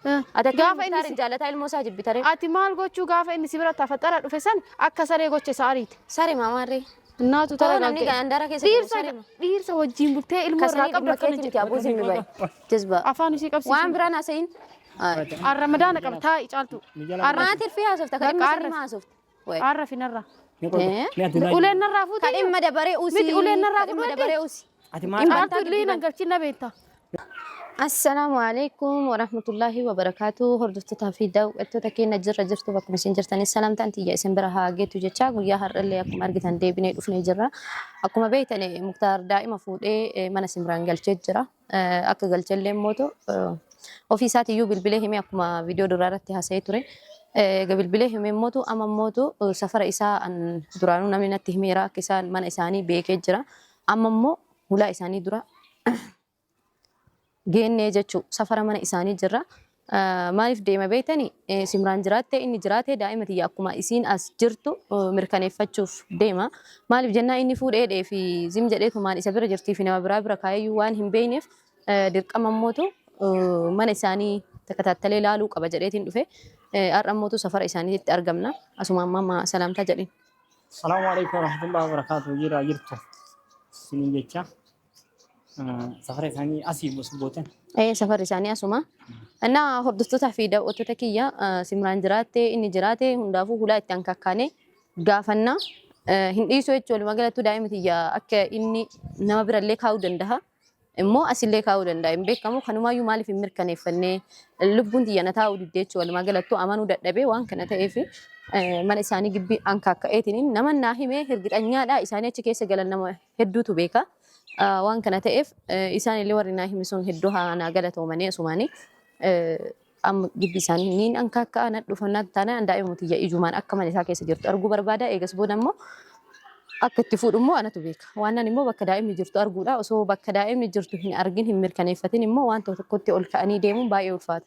Ati Gaafa akkamiin inni Muktaariin si- jaallataa ilmoo isaa jibbitaree? Ati maal gochuu gaafa inni si bira tafaxara dhufe san akka saree gocha isa ariite. Sare maamaarree. Naatu Too namni taragaagge. gaandara keessa jiru Dhiirsa sare ma. dhiirsa wajjin bultee ilmoo irraa Kasanii qabdu dhimma akkana keetii miti jedhe. abuu zimmi bayi. Jazbaa. Afaan isii qabsiisu. Waan biraan haasa'in. Arramadaana qaba taa'i caaltu. Arra- Maatii fi haasofta kan Bakka dhimma arra- sanii haasofta. Wai. Aarra fi narra. Ni qolte. Eh? Ni addunyaa Uleen jiru. narraa fuutee. Kadhin mada baree usi. Miti uleen narraa Kadhin mada fudhadhe. baree usi. Ati maal Dhimma- Aartu illee nan galchin na beekta. Assalaamu alaikum warahmatullahi wabarakatuh hordoftoota fi daawwattoota keenya jirra jirtu bakkuma isin jirtanii salaamtaan tiyya isin bira haa geetu jechaa guyyaa har'allee akkuma argitan deebinee dhufnee jirra akkuma beektane muktaar daa'ima fuudhee eh, mana simraan galchee jira akka galche illee mootu ofii isaati iyyuu bilbilee himee akkuma viidiyoo duraa irratti haasa'ee ture. Egaa bilbilee himee mootu amma mootu safara isaa duraanuu namni natti himeera akka isaan mana isaanii beekee jira. Amma immoo hulaa isaanii dura geennee jechuu safara mana isaanii jirra. Maaliif deema beektani? Simraan jiraattee inni jiraate daa'ima tiyya akkuma isiin as jirtu mirkaneeffachuuf deema. Maaliif jennaa inni fuudhee dhee fi zim jedhee tumaan isa bira jirtii fi nama biraa bira kaayeyyuu waan hin beeyneef dirqama ammootu mana isaanii takataattalee laaluu qaba jedheetiin dhufe. Har'a ammootu safara isaaniitti argamna. Asuma ammaa ma salaamtaa jedhin. Salaamu alaikum warahmatullahi wabarakatuh jiraa jirtu isiniin jecha Safara isaanii asii bootan. Ee safarri isaanii asuma. Innaa hordoftootaa fi daawwattoota kiyya eh, Simraan jiraatte inni jiraate hundaafuu hulaa itti hankakkaanee gaafanna. Eh, Hin dhiisu jechuun walumaa galattuu daa'ima tiyya akka inni nama birallee kaa'uu danda'a. Immoo asillee kaa'uu danda'a. Hin beekamu kanumaayyuu maaliif hin mirkaneeffannee lubbuun tiyya na taa'uu diddee jechuun walumaa galattuu amanuu dadhabee waan kana ta'eef eh, mana isaanii gibbii hankaakka'eetiin nama naa himee hirgixanyaadha isaanii achi keessa galan nama hedduutu beeka. Ah, Waan kana ta'eef eh, isaan illee warri naa hime sun hedduu haa naa galatoomanii asumaanii eh, amma gibbii isaanii niin anka akka ana dhufannaa taanaan daa'ima tiyya ijumaan akka mana isaa keessa jirtu arguu barbaada eegas booda immoo akka itti fuudhu immoo anatu beeka. Waanan immoo bakka daa'imni jirtu arguudha. Osoo bakka daa'imni jirtu hin argin hin mirkaneeffatin immoo waan tokko tokkotti ol ka'anii deemuun baay'ee ulfaata.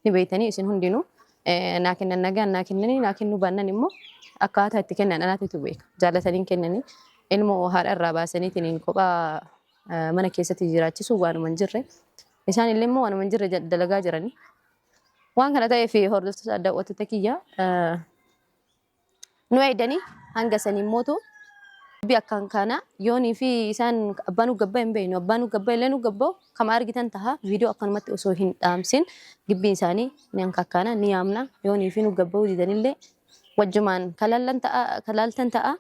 ni beektanii isin hundinuu eh, naa kennan nagaan naa kennanii naa kennuu baannan immoo akkaataa itti kennan anaatitu beeka jaallataniin kennanii ilmoo haadha irraa baasaniitiin kophaa eh, mana keessatti jiraachisuu waanuma hin jirre isaan illee immoo waanuma hin jirre jal- dalagaa jiranii waan kana ta'eef hordoftoota adda wattota kiyya eh, nu eeydanii hanga saniin mootu dubbi akkan kana yoonii fi isaan abbaa nu gabba hin beeynu abbaa nu gabba illee nu gabba'u kama argitan taha viidiyoo akkanumatti osoo hin dhaamsin gibbiin isaanii ni hankakkaana ni yaamna yoonii fi nu gabba'uu didanillee wajjumaan kalaaltan ta'a kalaaltan ta'a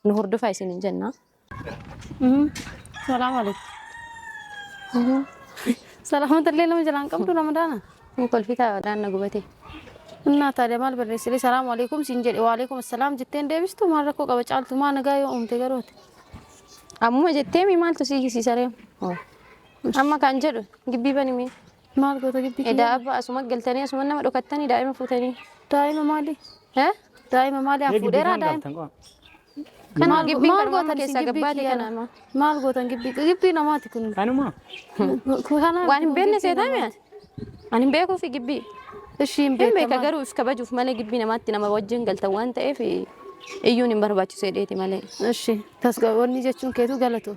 nu hordofaa isin hin jenna. Salaam alaikum. Salaamata illee nama jalaan qabdu ramadaana. Kun kolfitaa wadaan na gubatee. Innaa taadee maal barreessiree salaamu alaikum siin jedhe wa alaikum assalaam jettee hin deebistu maal rakkoo qaba caaltu maa nagaa yoo uumte garooti. Ammuma jettee mi maaltu si hiisiisaree? Amma kan jedhu gibbii banimee. Maal goota gibbii Edaa kiyyaa? abba asuma galtanii asuma nama dhokattanii daa'ima fuutanii. Daa'ima maali? He? Daa'ima maali? An Mee fuudheeraa gibbii daa'ima. kan galtan qofa. Kana Maal gibbiin maal garmaamuu gootan isin keessaa gibbii gabbaate kiyyaa? kana amma. Maal gootan gibbii? Gibbii namaati kun. Kanuma. Kanaaf Waan hin beekne gibbii seetaa mi'a? namaati. Ani hin beekuufi gibbii. Ishii hin Hin beeka beekamaa. garuu if kabajuuf malee gibbii namaatti nama wajjin galtan waan ta'eef iyyuun hin barbaachisu jedheeti malee. Ishii tasgabboonni jechuun keetu galatu.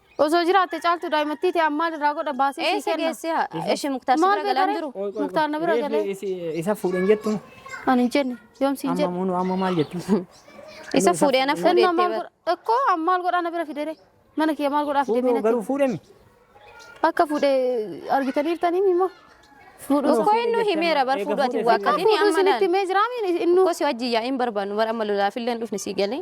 Osoo jiraatte caaltu daa'imattii ta'e ammaan irraa godha baasee sii Eessa kenna. geessee haa? Eshi muktaar si Maal bira galaan beekaree? jiru. Muktaar na bira galee. Isa fuudheen jettu Ani hin jenne. Yoom siin amma jedhe. munu amma maal jettu? Isa fuudhee na fuudhee Inni itti maal bara. godha? Ekkoo amma maal godhaa na bira fidere? Mana kiyya maal godhaaf deemee Fuudhuu natti? garuu fuudhemi. Akka fuudhee argitaniirtanii immoo. Fuudhuu Tokko inni himeera bar fuudhu ati waaqatini fuudhuu amma isinitti laal. mee jiraamiin inni Tokko si wajjin yaa'iin barbaannu bar amma lolaafillee hin dhufne si galee.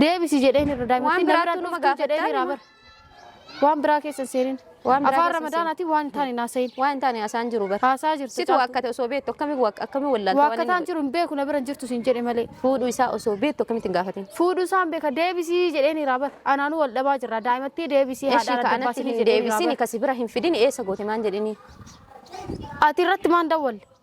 Deebisi jedheen irra daa'ima. Waan biraatti nama gaafattaan Waan biraa keessa seenin. Waan biraa Afaan keessa ramadaanaatiin waan hin taane naasayin. Waan hin taane haasaan jiru bara. Haasaa jirtu. Situ caaltu. akkate osoo beektu akkami akkami wallaalta waan Waaqataan inni jiru hin beeku na bira hin jirtu siin jedhe malee. fuudhu isaa osoo beektu akkamitti hin gaafatin. Fuudhuu isaan beeka deebisii jedheen irraa bara. Anaanuu wal dhabaa jirra daa'imattii deebisii Eshi haadhaan ka adda anatti baasinii hin jedheen irraa deebisini bara. kasi bira hin fidini eessa goote maan jedhini. Ati irratti maan dawwalle?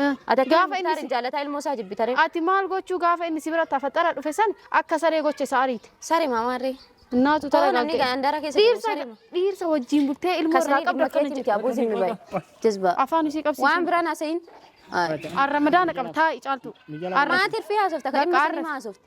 Ati akkamiin Gaafa inni Muktaariin si- jaalataa ilmoo isaa jibbitaree? Ati maal gochuu gaafa inni si bira tafaxara dhufe san akka saree gocha isa ariite. Sare maamaarree. Naatu Tara namni taragaagge. gaandara keessa jiru Dhiirsa saree ma. dhiirsa wajjin bultee ilmoo irraa Kasanii qabda dhimma akkana keetii miti jedhu. aboo zimmi bayi. Jazbaa. Afaan ishii qabsiisu. Waan biraan haasa'in. Arramadaana qaba taa'i caaltu. Arra- Maatii fi haasofta kan Bakka dhimma arra- sanii haasofta.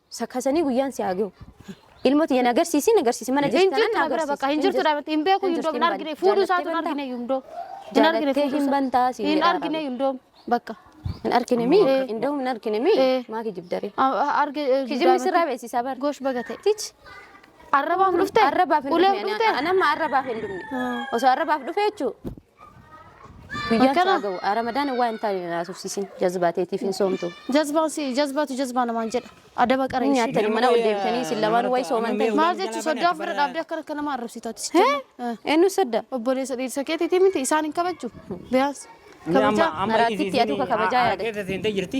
Sakasanii guyyaan si haa gahu. Ilmoo tiyya na garsiisi na garsiisi mana jirti tanan na garsiisi. Bakka hin jirtu dhaabatti hin beeku yundoo hin argine fuudhu isaatu hin argine yundoo. Hin argine fuudhu hin bantaa si hin argine yundoo bakka. Hin argine mi indoo hin argine mi maa kijibdare. Arge kijibni sirraa beeksisaa bar. Gosh baga ta'e. Tich. Arrabaaf dhufte? Arrabaaf hin dhufne. Anamma arrabaaf hin dhufne. Osoo arrabaaf dhufe jechuudha. Guyyaan Akkana. isaa ga'u. Ah, Ramadaan waa hin taane na haasofsiisin. Jazbaa teetiif hin soomtu. Jazbaan si jazbaatu jazbaa namaan jedha. Adaba qara Hin ishii. nyaattan mana ol deemtanii isin lamaan wayi soomantanii. Maal jechuun soddaa ofirra dhaabdee akkana akka nama arrabsitaati. si Hee? jenna. Eh, Eenyu sadda? Obboleessa dhiirsa keetiitii miti isaan hin kabajju. Biyaas. Amma Kabajaa. amma Maraattitti isiin- aduu kakabajaa yaada. Harka keessa seentee jirti.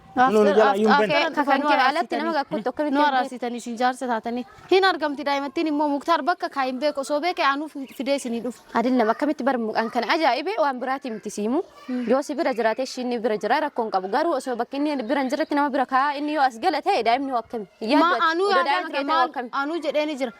Kunoo nu jalaa iyyuu hin bane. After kan kee alatti nama gakkootti akkamitti nu araarsitan isin jaarsa taatanii hin argamti daa'imattiin immoo muktaar bakka kaa hin beeku osoo beeke aanuu fidee isinii dhufu. Adillam akkamitti bar mucaan kana ajaa'ibee waan biraatii miti siimu yoo si bira jiraate ishii inni bira jira rakkoo hin qabu garuu osoo bakki inni bira hin jirretti nama bira kaa inni yoo as gala ta'e daa'imni hoo akkami Maa yaaddu ati? aanuu Odoo yaadaa daa'imni jira kee ta'e hoo maal akkami aanuu jedhee ni jira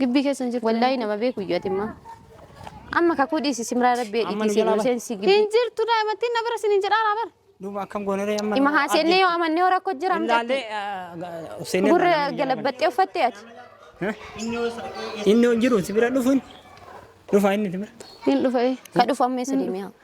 Gibbii keessa hin jirtu. Wallaahi nama beeku iyyuu ati immoo. Amma kakuu dhiisi simraa rabbi Amma nu dhiiti jalaa seenuu seensi gibbii. Hin jirtu daa'imattiin na bira sin hin jedhaa labar. Duuba akkam goonaree amma. Ima haasennee yoo amannee hora koo jira mucatti. Ilaallee seenee. Gurra galabbaxxee uffattee ati. Inni hin jiru si bira dhufuun. Dhufa inni si bira. Hin dhufa ee. Ka dhufu amma eessa deemee haa.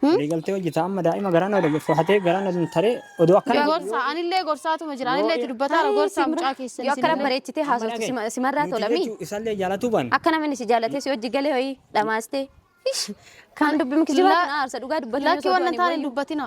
Hmm? Waliigaltee hojjeta amma daa'ima garaa na dabarfatee garaa na taree odoo akkana Yoo- Gorsa anillee gorsaatuma jira. Anillee itti dubbataara gorsaa mucaa keessan. Yoo akkana isinillee. bareechitee Amma haasoftu dhaga'i. sima- simarraa Nuti tolamii. jechuu Isallee jaalatuu ban. Akka namni si jaalatee si hojii galee ho'i dhamaastee. Ish, Kan dubbi mukijibaa La- kun aarsa dhugaa dubbatanii Lakki osoo waan hin du'anii taane hin wayyu. dubbatina.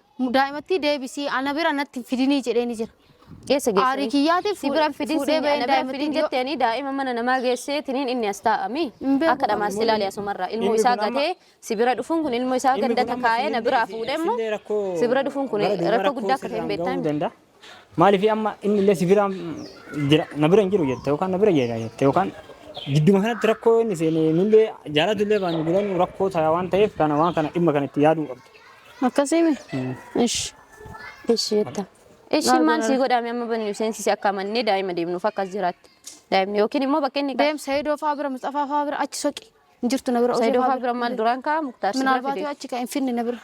Daa'imattii deebisii ana bira natti hin fidinii jedheeni jira. Eessa geessanii? Aarii kiyyaatiif si bira hin fidin fuudhee siin ba'een ana bira hin fidin daa'imattii jetteeni daa'ima mana namaa geessee tiniin inni as taa'ami. Hin beeku Akka dhamaas kan ilaali asumarraa ilmoo Inni isaa kun amma- gatee si bira dhufuun kun ilmoo isaa Inni ganda kun amma takaa'ee na sinin biraa beeku, fuudhee immoo isillee rakkoo si bira dhufuun kun gara duubaa rakkoo guddaa akka ta'e hin sirraan beektaa ga'uu himi. danda'a. Maaliif amma inni illee si bira jira na bira hin jiru jette yookaan na bira jira jette yookaan gidduma kanatti rakkoo inni seenee nullee jaalatu illee baanyu bilanuu rakkoo ta'a waan ta'eef kana waan kana dhimma kana itti yaaduu qabdu. Akkasiimi? Ish. Ish jetta. Ishi Maal maal godhan? sii godhaame amma bannu seensisi akka amannee daa'ima deemnuuf akkas jiraatti. Daa'imni yookiin immoo bakka inni Deem Saidoo faa bira Mustafa faa bira achi soqi. Hin jirtu na bira. Osee Saidoo faa faa bira maal duraan kaa muktaar si bira Minaalbaatu fide. achi ka hin finne na bira.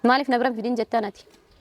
Maaliif na bira hin fidin jettaan ati?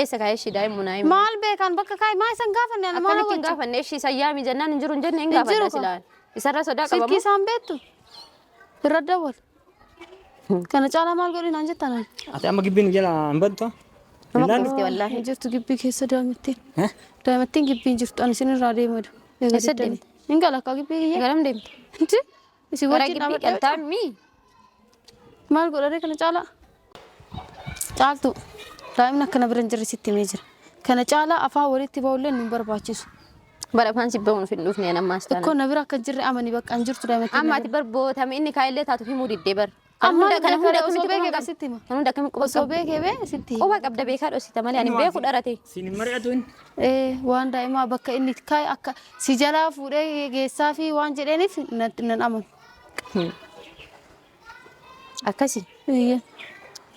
Eessa kaa'e ishii daa'im munaa himi. Maal beekaan bakka kaa'i maa isan gaafanne ana maal Akkamitti hin hawwachu? gaafanne ishii isa yaami jennaan hin jiru hin jenne hin Hin gaafanna jiru kaa. silaan. Isarra sodaa Silkii qabamu. isaan beektu irra dawwal. Kana caalaa maal godhi naan jettan ani. Ati amma gibbiin jala hin baddu. Nama Illaan- kuufte wallaahi. Hin jirtu gibbii keessa daa'imattiin. Eh? Daa'imattiin gibbii hin jirtu ani isin irraa deemadu. Egaa Eessa deettanii. Hin gala akka gibbii kiyya. Garam deemte? Inti Isin Gara wajjin gibbii dhaabadha. galtaan mii? Maal godharee kana caalaa? Caaltu daa'imni akkana bira hin jirre sitti himee jira. Kana caalaa afaan walitti ba'ullee nu hin barbaachisu. Bara afaan si bahuun hin dhufne an ammaas taana. Ikkoo na bira akka hin jirre amani bakka hin jirtu daa'ima keenya Amma ati bira. bar bootame inni kaa'illee taatu himuu diddee bar. Kan Amma hunda- kan hunda beekadha, osoo akkamitti beeke quba qaba? sitti hima. Kan hunda akkamitti quba Osoo qaba? beeke bee sitti hima. Quba qabda beekaa dhoksita malee ani beeku dharate. Siin hin mari'atu inni. Ee, waan daa'imaa bakka inni itti kaa'e akka si jalaa fuudhee geessaa fi waan jedheeniif nan nan amanu. Akkasi. Eeyyee.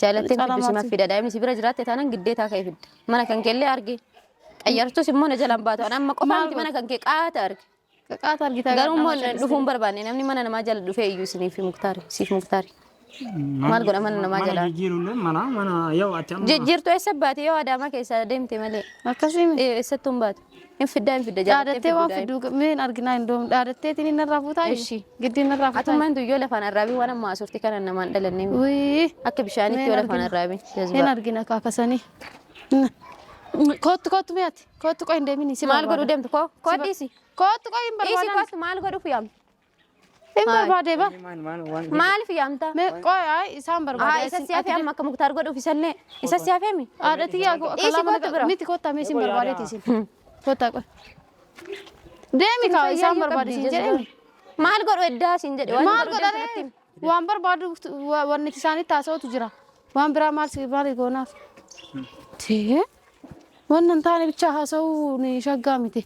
Jaalatteen Calamaa fiddu simaaf fi- fida. Daa'imni si bira jiraatte taanaan giddeetaa ka'e fidda. Mana kan keellee arge. Qayyartus immoo na jalaan baatu. Ani amma qofaa Maal miti mana kan kee qaata arge. Qaqaata argitaa Garuu immoo gaadhaa dhufuun mataa barbaanne namni mana namaa jala dhufee iyyuu isiniif muktaari siif muktaari. Maal godha mana namaa jalaa? jijjiirullee mana mana yoo achi amma Jijjiirtu eessa baate yoo adaamaa keessaa deemte malee. Akkasii miti. Eh, Eessattuu hin baatu. Hin fiddaa hin fidda Dhaadattee waan fiduu fiduu meen arginaa hin doomu. Dhaadatteetiin inni irraa fuutaa jiru. Eshi. Giddii inni irraa fuutaa jiru. Atummaan duyyoo lafaan arraabii waan amma haasofti kana namaan dhalannee miti. Wii. Akka bishaanitti Meen yoo lafaan argina. arraabii. Hin Jazbaa. argina kaakasanii. Kottu kottu mi'aati. Koottu qoy hin deemini. Si Maal godhu deemtu koo? Koodhiisi. Koottu qoy hin Dhiisi barbaadan. kootu maal godhuuf yaamta? Hin barbaade ba. Maaliif yaamta? Me qoy ay isaan Haa barbaada. isa si hafee amma akka muktaar godhuuf isallee isa si hafee mi? Haadha tiyyaa koo Dhiisi kalaa mana koottu bira. miti koottaa mee isin barbaadeeti isin. Koottaa qoy. Deemi kaa isaan barbaade isin jedheen. Maal godhu eddaa siin jedhe waan Maal barbaadu godhare? deemtu natti himi. Waan barbaadu wanni isaanitti haasa'utu jira. Waan biraa maal si maal goonaaf. Tee waan hin taane bichaa haasa'uu ni shaggaa miti.